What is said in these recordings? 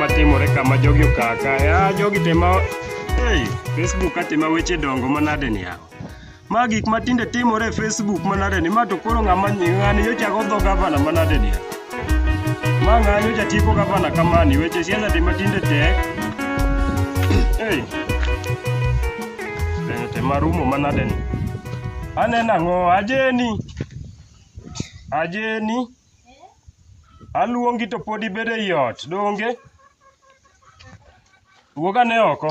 matimore kama jogi okaa kae ah, jogi tema hey, facebook atema weche dongo manade ni yawa ma gik matinde timore e facebook manade ni ma to koro ng'ama ng'ani nyocha go dho gavana manade ni yawa ma ng'ani nyocha tieko gavana kamani weche siasa tema tinde tek hey. Bende tema rumo manade ni aneno ang'o ajeni Ajeni, aluongi to pod ibedo ei ot, donge? Wuog ane oko.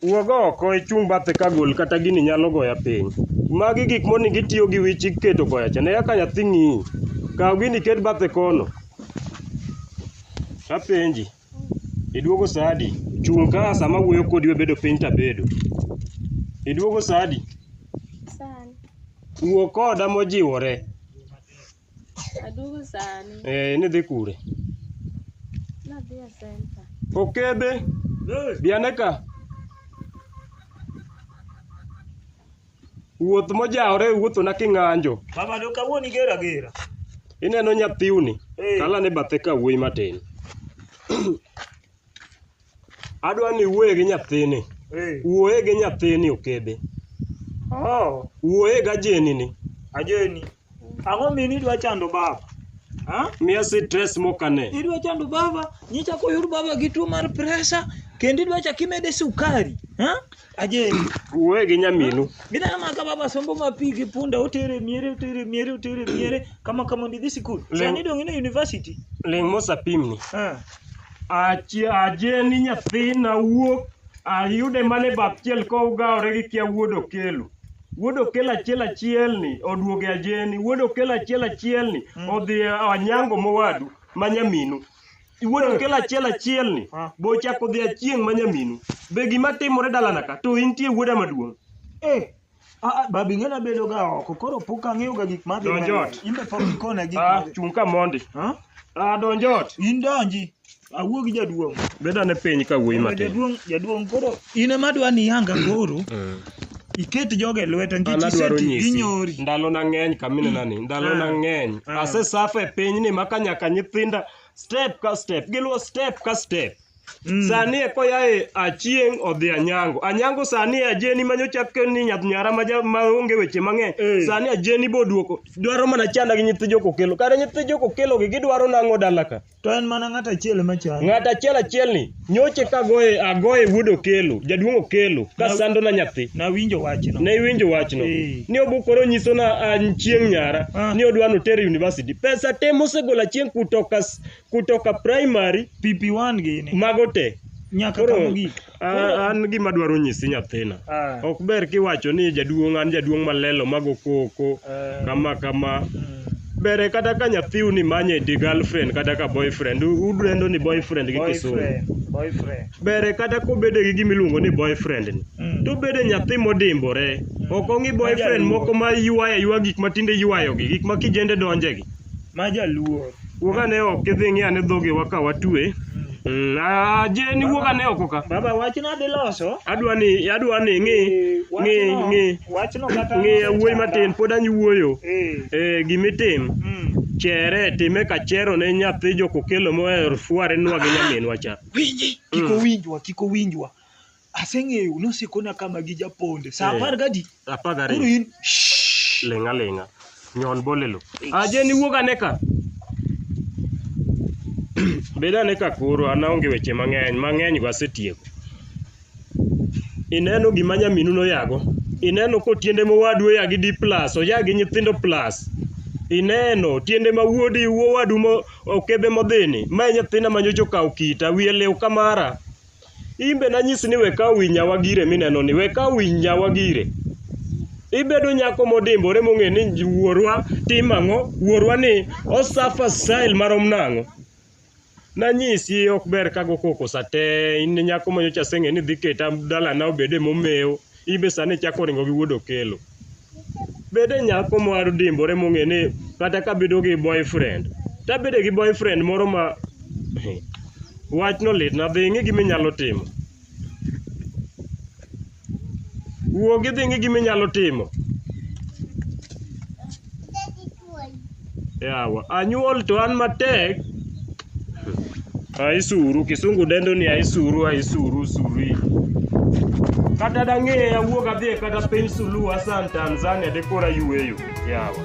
Wuog oko ichung' bathe ka gol kata gini nyalo goya piny. Magi gik monego itiyo gi wich iketo koya cha. Ne kaka nyathi ng'iyi. Kaw gini iket bathe kono. Apenji. Iduogo saa adi? Chung' ka sama awuoyo kodi webedo piny to abedo. Iduogo saa adi? Sani. Wuo koda mojiwore. Aduogo sani. Eh, nidhi kure? Nadhi e center. Okebe, biane ka. Wuoth mojawore wuothona king'anjo. Mama do kawuono igero agera. Ineno nyathiwni Eh. kalane bathe ka wuoyi matin. Adwa ni wuoye gi nyathini. Eh. Wuoye gi nyathini okebe. Oh, Wuoye gajenini. ajeni. Ang'o mini idwa chando baba? Ha? Miya stress mokane. Idwa chando baba, nyicha koyud baba gi tuo mar pressure, kendo idwa chak imede sukari. Ha? Ajeni. Uwe gi nyaminu. Gidana ma ka baba sombo ma pi gi punda otere miere otere miere otere miere kama kama ndidhi sikul. Lem- Sani dong ine university. Ling' mosapimni. Ha. Achi- Ajeni nyathina wuok ayude mana e bap chiel kowgawore gi kia wuod okelo. Wuod okel achiel achiel ni oduoge ajeni, wuod okel achiel achiel ni odhi e anyango mowadu ma nyaminu. Wuod okel achiel achiel ni Ah. be ochako dhi achieng' ma nyaminu. Be gima timore dalana ka to intie wuoda maduong'. Eh, ah, ah, babi ng'ena bedo ga oko koro pok ang'eyo ga gik madhi Donj mbele. ot. Imbe pok ikona gik Ah, madhi. chung' ka mondi. Ha? Ah, donj ot. In donji. Awuo gi jaduong'. Bed ane piny ka wuoyi matin. Jaduong' jaduong' koro in ema dwa ni yanga koro iket joge lweta An nikech adwaro iseti nyisi ginyori. ndalo na ng'eny kaminena ni ndalo na Ah. ng'eny Ah. asesafa e piny ni maka nyaka nyithinda step ka step giluwo step ka step Mm. sani e koyae achieng' odhi anyango anyango sani e ajeni manyocha ni nyath nyara ma ja- ma onge weche mang'eny Eh. sani ajeni boduoko dwaro mana chanda gi nyithi jokokelo kare nyithi jokokelo gi gidwaro nang'o dalaka To en mana ng'at achiel ema chal. Ng'at achiel achielni nyoche ka goye agoye wuod Okelo, jaduong' Okelo ka Na- sandona nyathi. Nawinjo wachno. Ne iwinjo wachno Eh. ni obukore onyisona an chieng' nyara Ah. ni odwa notere university. Pesa te mosegolo achieng' kutoka s- kutoka primary PP1 gini. mago te. Nyaka Koro- kama gik. Ah, an gima dwaro nyisi nyathina Ah. ok ber kiwacho ni jaduong' an jaduong' malelo mago koko Ah. kama kama Mm. bere kata ka nyathiu ni manye di girlfriend kata ka boyfriend u- udendo ni boyfriend gi kisungu Boyfriend. Boyfriend. bere kata kobede gi gima iluongo ni boyfriend ni Mm. to bede nyathi modimbore ok ong'i boyfriend moko ma ywayo aywa gik ma tinde ywayogi gik ma kijende donjegi Ma jaluo. Wuog ane oko kidhi ing'i ane dhogewa ka watue. Mm, ah, Jeni wuog ane oko ka. Baba wachno adhi loso. Adwa ni adwa ni ng'i Eh, ng'i wachno- ng'i Wachno kata ng'i yawuoyi matin pod anyuoyo. Eh. Eh, gimitim Mm. chere time ka chero ne nyathi jokokelo moher fuare nwa gi nyaminwa cha. Winji. Kik owinjwa, kik owinjwa. aseng'eyo nosikona kama gi japonde saa Eh. apar gadi apar koro gariyo in shh, ling'a ling'a nyon bolelo aje niwuog ane ka bed ane ka koro an aonge weche mang'eny mang'eny go asetieko ineno gima nyaminu noyago ineno ko tiende mowadu oya gi d plus oya gi nyithindo plus ineno tiende ma wuodi wowadu mo- okebe modhini mae nyathina manyocha okawo kita wiye lew kamara in be nanyisi ni we kaw wi nyawa gire mineno ni we kaw wi nyawa gire ibedo nyako modimbore mong'e ni wuorwa tim ang'o wuorwa ni osafa style marom nang'o nanyisi ok ber kago koko sate in nyako manyocha aseng'e ni dhi keta dalana obede momewo in be sani ichako ringo gi wuod okelo bede nyako mar dimbore mong'e ni kata kabedo gi boyfriend tabede gi boyfriend moro ma wachno litna dhi ing'i gima inyalo timo wuog idhi ing'i gima inyalo timo Yawa, anyuol to an matek. Aisuru, kisungu dendo ni aisuru, aisuru, suri. Kata dang'e awuog adhi e kata piny Suluhu Hassan Tanzania de kora yueyo. Yawa.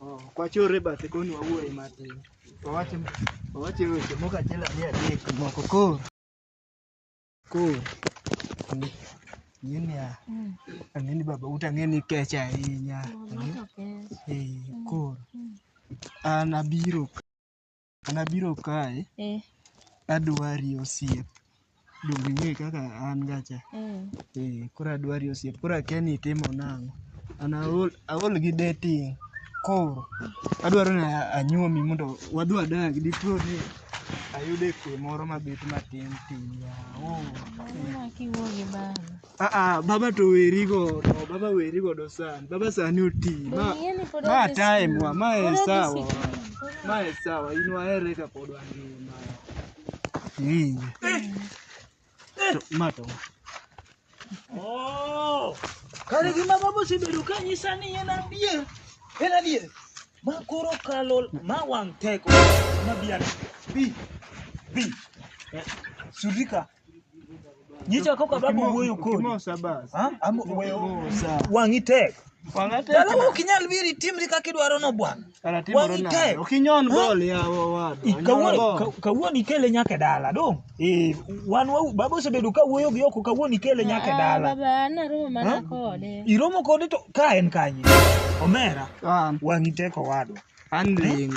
Oh, ok wachor e bathe koni wawuoye matin. Wawache wawache weche moko achiel ariyo adek moko koro. Koro. ni- Ng'e niya, ang'e ni baba uta ng'e ni kech ahinya. Eh, koro. An abiro ka- An abiro kae eh. adwari osiep donge ing'e kaka an gacha eh. eh, koro adwari osiep koro akia ni itimo nang'o an aol, aol gi dating koro adwaro ni anyuomi mondo wadhi wadag dipo ni ayude kwe moro mabet matin tin yawo oh, eh. Aa, baba to weri godo, baba weri godo sana. Baba sani oti. Ma Ing'e ni pod ma odhi time wa, ma Pod en odhi sawa. sikul. Ma en sawa, in wahere ka pod wangima. Eh. To ma to. Oh! Kare gima baba osebedo ka nyisa ni en adier. En adier. Ma koro kalo ma wang' teko. Ma biana. Bi. Bi. Sudika. Nyicha kok ababo wuoyo kodi. Kimosa basi. Ha? Am weyo. Kimosa. Wang'i tek. Wang'a tek. Dala ok inyal biri timri kaka idwaro no bwana. Kara timore Wang'i nade? tek. Ok inyon Ha? bol yawa wadu. I- Onyon Kawuono bol. ka- kawuono ikele nyaka e dala dong. Eh, wan wa baba osebedo ka wuoyo gi oko kawuono ikele nyaka e Ah, dala. Baba an aromo mana Ha? kode. Iromo kode to ka en kanye. Omera, An wang'i tek owadwa. an ling.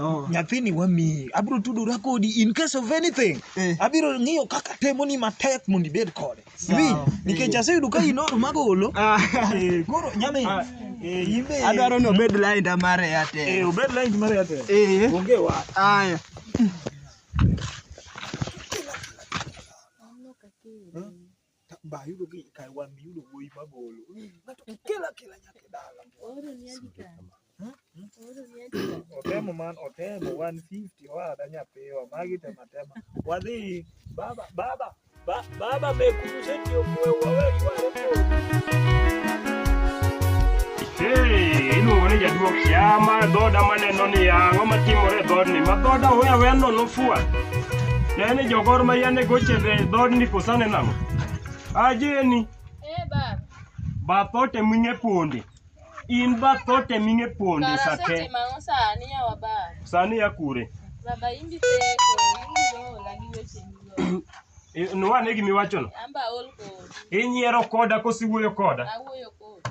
Oh. nyathini wamiyi abiro tudora kodi in case of anything Eh. abiro ng'iyo kaka temoni matek mondo ibed kode Sawa. Iwinj? nikech aseyudo ka inoro magolo Ah. Eh, koro nyamin Ah. eh, in be- Adwaro ni obed lainda mar Eh, Airtel. obed line mar Airtel. Eh. Onge wach. Aya. ba yudo ki kai wan mi yudo wuoyi ma golo ng'ato kikela kela nyaka dala oro ni andi ka hmm? Hmm? oro ni andi ka otemo man otemo 150 wada nyapiwa magi tema tema wadhi baba baba ba, baba mekumseti omwe wawe yuare Hey, iluongo ni jaduok yama dhoda maneno ni yang'o matimore e dhoodni ma dhoda hoya weya nono fua ne ni jogor ma yane gochende e dhoodni kosane nang'o ajeni Eh, baba. bathote ming'e ponde in bathote ming'e ponde Kara sate setimo ang'o sani yawa baba? sani ya kure Baba imbi seko, imbi ola gi weche migo. I- nwane gimiwachono Amba ol kodi, inyiero koda kosiwuoyo koda awuoyo kodi.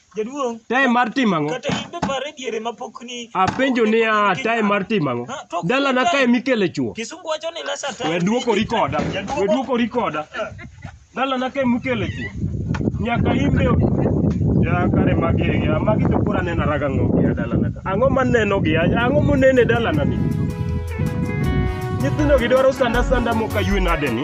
Jaduong', time mar timo ang'o kata in be par e diere ma pok ni apenjo niya time mar timo ang'o dalana kae mikele chuo Kisungu wacho ni less at we duokori koda we duokori koda dalana kae mikele chuo nyaka imbe ya kare magi ya magi to kura nena raga ng'o ya dalana ka ang'o maneno gi ya ang'o monene dalana ni nyithindo gi dwaro sanda sanda mokaywe nade ni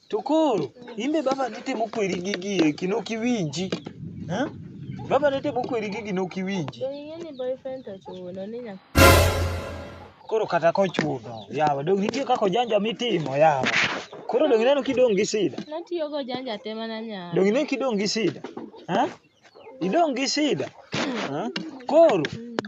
To koro imbe baba nitemo kweri gigi eki nok iwinji. Eh? Baba nitemo kweri gigi nok iwinji. Be ing'e ni boyfriend to chuno ni nyaka Koro kata kochuno yawa dong nitie kaka ojanja mitimo yawa. Koro dong ineno kidong' gi sida. natiyogo janja te mana nyar. Dong ineno kidong' gi sida. Eh? Idong' gi shida. Ha? Koro,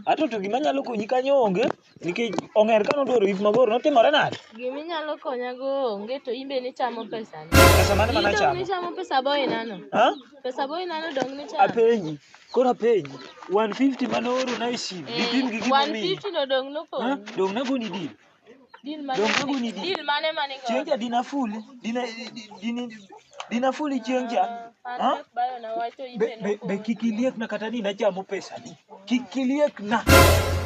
ato to gima nyalo konyi kanyo onge, nikech ong'er ka nodwaro yik mabor, notimore nade? Gima inyalo konyago onge to in be nichamo pesani. Pesa mane ma In dong' nachamo? nichamo pesa boinano. Ha? Pesa boinano dong' nichamo. Apenji, koro apenji, 150 mane oorona e sim, dipim gi gima omiyi. 150 no dong' Ha? nokonyi. Dong' nagoni dil. Deal mane Donge mane- guni di- deal mane mane godo? Chieng' cha dina fuli, dina dina dina fuli chieng' cha. Ah, Ha? Patrick bayo na wacho Be, ibe be, be kik iliekna kata ni nachamo pesani. Kik iliekna.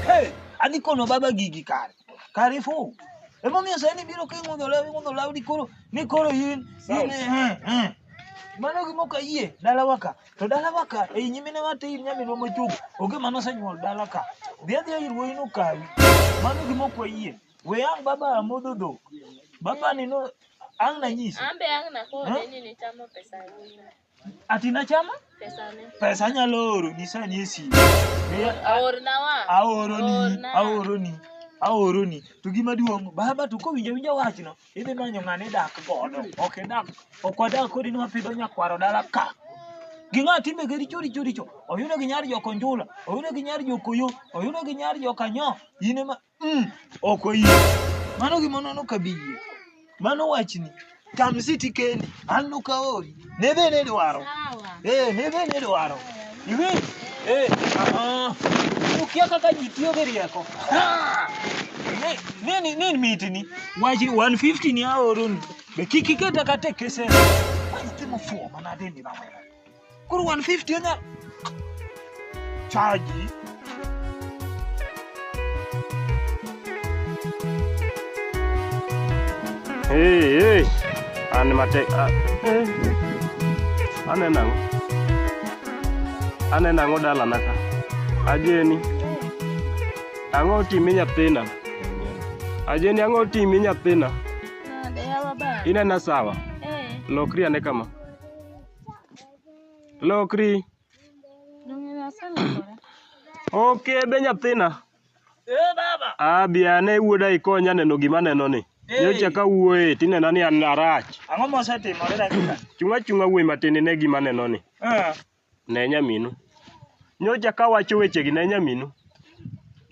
Hey, adhi kono baba gigi kare. Kare fu. Emomiyo sani biro king'udho lawi ng'udho lawi ni koro ni koro in in eh eh. Mano gima ok ayie dalawa ka. To dalawa ka, ei nyimine wa tir nyaminwa mochung', onge mane osenyuol dala ka. Dhi adhiya ir wuoyino okawi. Mano gima ok wayie. We ang' baba amodho dhok. Baba ni no, ang' nanyisi. Ambe ang' nakone Huh? ni nichamo pesa wuoyino. Ati nachama? Pesane. Pesa anyalo oro, nyisa ni e simu. Be a- Aorna wa. aoroni Orna. aoroni aoroni to gima duong' baba to kowinjo winjo wachno Idhi manyo ng'ani idak godo. Ok idak. Ok wadak kodi ni wapidho nyakwaro dala ka. Gi ng'a timbe gi richo richo richo. Oyudo gi nyar joko njula. Oyudo gi nyar joko yo. Oyudo gi nyar joko anyo. In ema. Mm. Ok oyie. Mano gima nono kabiyie. Mano wachni. Tam siti kendi. An nokaori. Nidhi ni dwaro. Sawa. Eh, nidhi ni dwaro. Iwinj? Eh, ah. Ukia kaka ji tiyo gi rieko. Ah! Ne- Nini nini mitini? Waji 150 ni aoroni. Be kik iketa kata e kese. Waji timo fuo manade ni baba. Koro 150 onya chaji Hey, hey. An mate a eh. Ane nango. Ane nango dala naka. Ajeni. Ango timi nyathina. Ajeni ango timi nyathina. Nade yawa ba? Inena sawa. Eh. Lokri ane kama. Lokri. Ok be nyathina. Eh baba. Ah bi ane wuoda ikonya neno gima neno ni. Nyocha ka wuoye tinena ni an arach. Ang'o mosetimore dakika? Chunga chunga wuoyi matin ine gima neno ni. Eh. Ne nyaminu. Nyocha ka wacho wechegi ne nyaminu.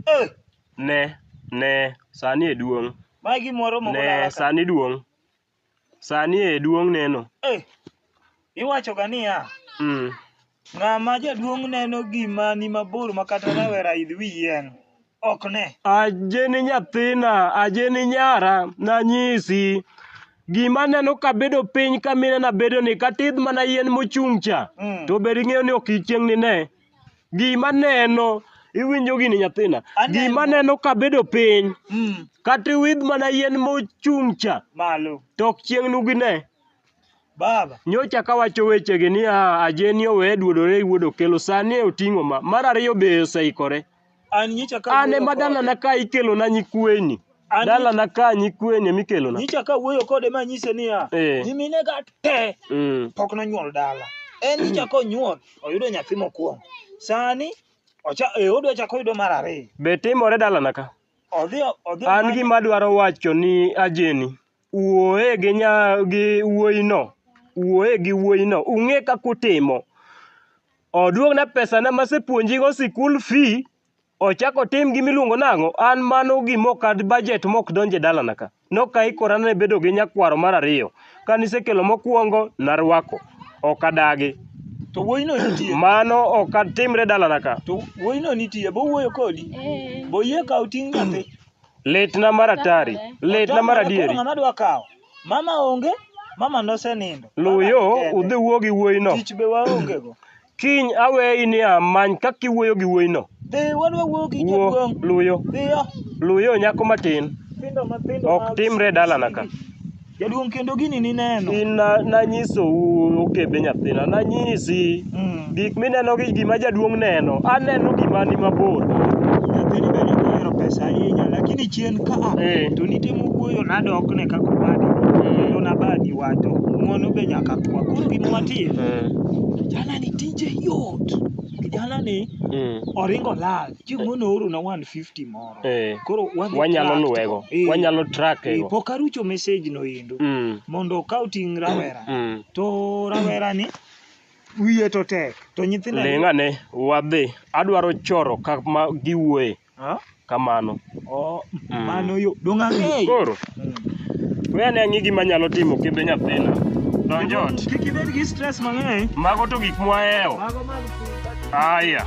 Eh. Ne ne sani e duong'. Magi moro mogolala. Ne sani duong'. Sani e duong' neno. Eh, iwachoga niya, Mm. ng'ama jaduong' neno gima ni mabor ma kata rawera idh wi yien ok ne. Aje ni nyathina, aje ni nyara, nanyisi. Gima neno kabedo piny kaminena bedo ni katidh mana yien mochung' cha, Mm. to bed ing'eyo ni ok ichieng' nine. Gima neno, iwinjo gini nyathina. Aneno. Gima neno kabedo piny, Mm. kata iwidh mana yien mochung' cha, Malo. to ok chieng' nugine. Baba. Nyocha kawacho wechegi ni ah, Ajeni owe duodore gi wuod Okelo, sani oting'o ma. Mar ariyo be oseikore. An nyicha ka An ema dalana ka ikelona nyikweni. An- Dalana ka nyikweni ema ikelona. nyicha ka wuoyo kode ma nyise niya, Eh. nyimine ga te Mm. pok nonyuol dala. En nyicha konyuol oyudo nyathi mokwongo. Sani ocha eh, odwa chako oyudo mar ariyo. Be timore dalana ka? Odhi odhi An gima adwaro wacho ni ajeni. Wuoye gi nya gi wuoyino, wuoye gi wuoyino, ung'e kaka utimo. Oduogna pesana masepuonjigo sikul fee, ochak otim gima iluongo nang'o, an mano gima ok a budget ma ok donj e dalana ka. Ne ok aikora ne bedo gi nyakwaro mar ariyo. Kane isekelo mokuongo, naruako. Ok adagi. To wuoyino nitie. Mano ok atimre e dalana ka. To wuoyino nitie. Be owuoyo kodi? Be oyie kawo ting' nyathi? Litna mar atari, litna mar adieri. Ng'ama dwa kawo? Mama onge, mama nosenindo. Luw yo udhi wuo gi wuoyino. Tich be waonge go. Kiny aweyi ni amany kaka iwuoyo gi wuoyino. Dhi wadwa wuoyo gi jaduong'. Luw yo. Dhiyo. Luw yo nyako matin. Ok timre e dalana ka. Jaduong' kendo gini nineno. Gin na- nanyisou okebe nyathina nanyisi Mm. gik mineno gi gima jaduong' neno aneno gima ni mabor Nyathini bende ok ohero pesa ahinya lakini chien ka a Eh. to nitemo wuoyo nadokne kaka owadi Mm. kendo nabadi wacho ng'wono be nyaka kwa. Koro gima watim kijanani tije yot. Kijanani Mm. oringo lal. Chieng' moro oorona 150 moro. Eh, Koro wadhi wanyalo track luwego, to. Eh, wanyalo eh, trackego. pok arucho message no endo Mm, mondo okaw ting' rawera mm. to rawera ni wiye to tek to nyithindo Ling' ane, wadhi. Adwaro choro kama giwuoye Ah, kamano. oh, Mm. mano yo dong' ang'eyo Koro, Mm. we ane ang'i gima nyalo timo kidhi nyathina. Donj ot. kik ibed gi stress mang'eny Mago to gik mwahewo. mago mag Aya.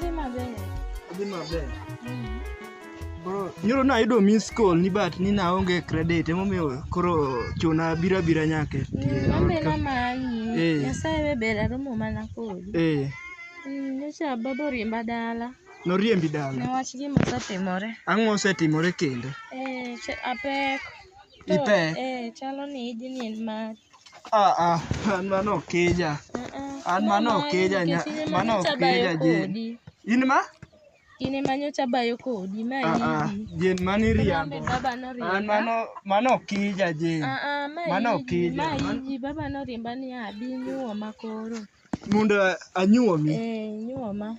Dhi maber. Dhi maber. Bro, nyoro nayudo miss call ni but ni naonge credit emomiyo koro chuna bira bira nyake. Mm, Ambe na manyi. Eh. Nyasaye be ber aromo mana kodi. Eh, Mm, Nyocha baba oriemba dala. noriembi dala. Newach gima osetimore. Ang'o osetimore kendo? Eh, ch- apek. To, Ipek? Eh, chalo ni ijni en mari. Ah, ah, an mano okija. An mano okija nya, mano okija Jane. In ma? In ema nyocha bayo kodi ma Ah, ah, idi. Jane mano Lambe iriambo. baba An noriemba. mano, mano okija Jane. Ah, ah, ma Mano idi, okija. ma Man- idi. Baba noriemba ni abi nyuoma koro. Mondo anyuomi. Eh, nyuoma.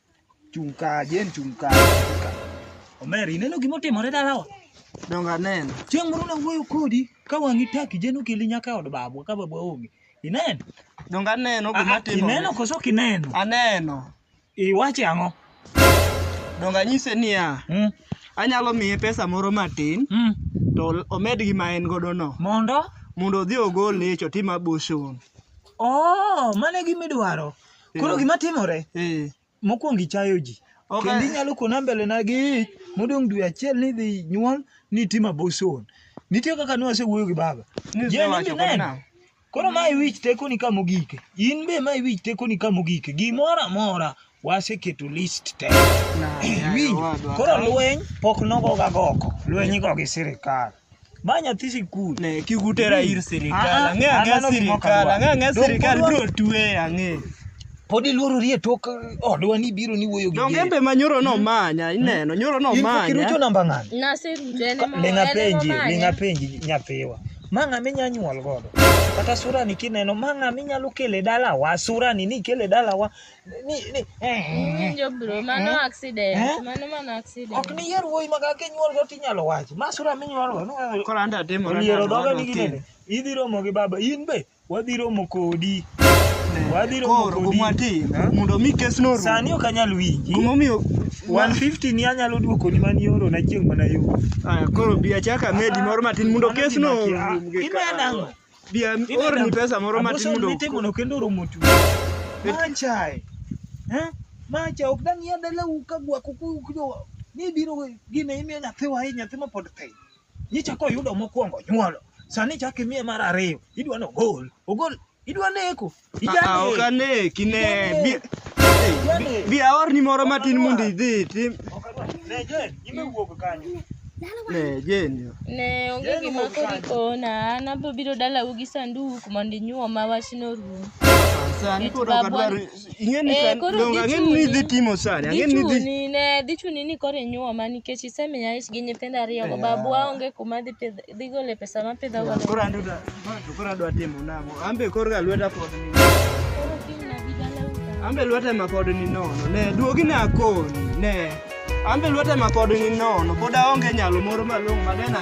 Chung' ka, Jane chung' ka. Omer, ineno gima otimore dalawa? Dongo aneno. Chieng' moro nawuoyo kodi ka wang'i taki Jane okeli nyaka e od babwa ka babwa onge. Ineno? Dongo aneno gima Ah, timore. Ineno koso ok ineno? Aneno. Iwache ang'o? Dongo anyise niya, Mm, anyalo miye pesa moro matin mm. to omed gi ma en godo no Mondo? mondo odhi ogol leche otim abortion. Oh, mano e gima idwaro. Koro Eh. gima timore, Eh. mokwongo ichayo ji. Ok, Kendo eh. inyalo kona mbele na gi ich, modong' dwe achiel ni idhi nyuol, ni itim abortion. Nitie kaka ne wasewuoyo gi baba. Ni Yie ni isewacho kod mineno. nang'o? Koro ma iwich tekoni ka mogike. In be ma iwich tekoni ka mogike. Gimoro amora waseketo list te. Na, Winjo. yawa, dwa- Koro lweny pok nogoga goko. Lweny igo gi sirikal. Ma nyathi sikul. Ne kigutera ir Ah, ah, sirikal. Ang'e ah, ang'e mano gima ok sirikal. adwar. Ang'e ang'e Donge sirikal wadwa- biro twe ang'e. Pod iluorori e tok odwa ni biro ni wuoyo gi Donge gere. embe ma nyoro no manya ineno nyoro no In manya. kirucho namba ng'ani? Naseruto en ema Linga en penji, ema linga manya. penji nyathiwa. Ma ng'a minya nyuol godo. Kata surani kineno, ma ng'a minyalo kele dalawa, surani ni kele dalawa. ni ni Winjo bro, mano accident. Eh? Mano mana accident. ok ni yier wuoyi ma kaka inyuol go tinyalo wachi ma sura minyuol go no- Koro anda demo na oliero dhoga ni ginene idhi romo gi baba in be wadhi romo kodi wadhi romo Koro kodi gumwati Eh? mondo mi kes no sani ok anyal winji Gumomiyo 150 ni anyalo duokoni mani ioro na chieng' mana yo Aya, koro bi achaka medi moro matin mondo kes no Imena ang'o? Dia orni pesa moro matin mundo. Abuso mitimo no kendo romo tu. Machae. Eh? Macha ok dang ya dala u ka gwa kuku kujo. Ni biro gine ime nyathi wa hii nyathi ma pod pe. Ni chako yudo mokwongo nyuolo. Sani chako imiye mar ariyo. Idwa no gol. Ogol. Idwa neko. Ah, ok ane kine bi- bi- bi aorni moro matin mondo idhi itim ne jeni Ne onge gima koro ikona, an abiro biro dalau gi sanduk mondo inyuoma wachno orum. sani koro ok adwar ing'e ni Eh, sani koro donge ang'e ni idhi gichuni. timo sani ang'e ni idhi Dhichuni ne, dhichuni ni koro inyuoma nikech isemiya ich gi nyithindo ariyogo, babwa onge kuma dhi pidh Dhi gole pesa ma pidho go. Koro andu da. To koro adwa timo nang'o? Ambe koro ga lweta pod ni. Koro kiny na bi dala uta. Ambe lweta ma pod ni nono. Ne duogi na akoni. Ne. Ambe lweta ma pod ni nono. Pod aonge nyalo moro malong'o ma dena.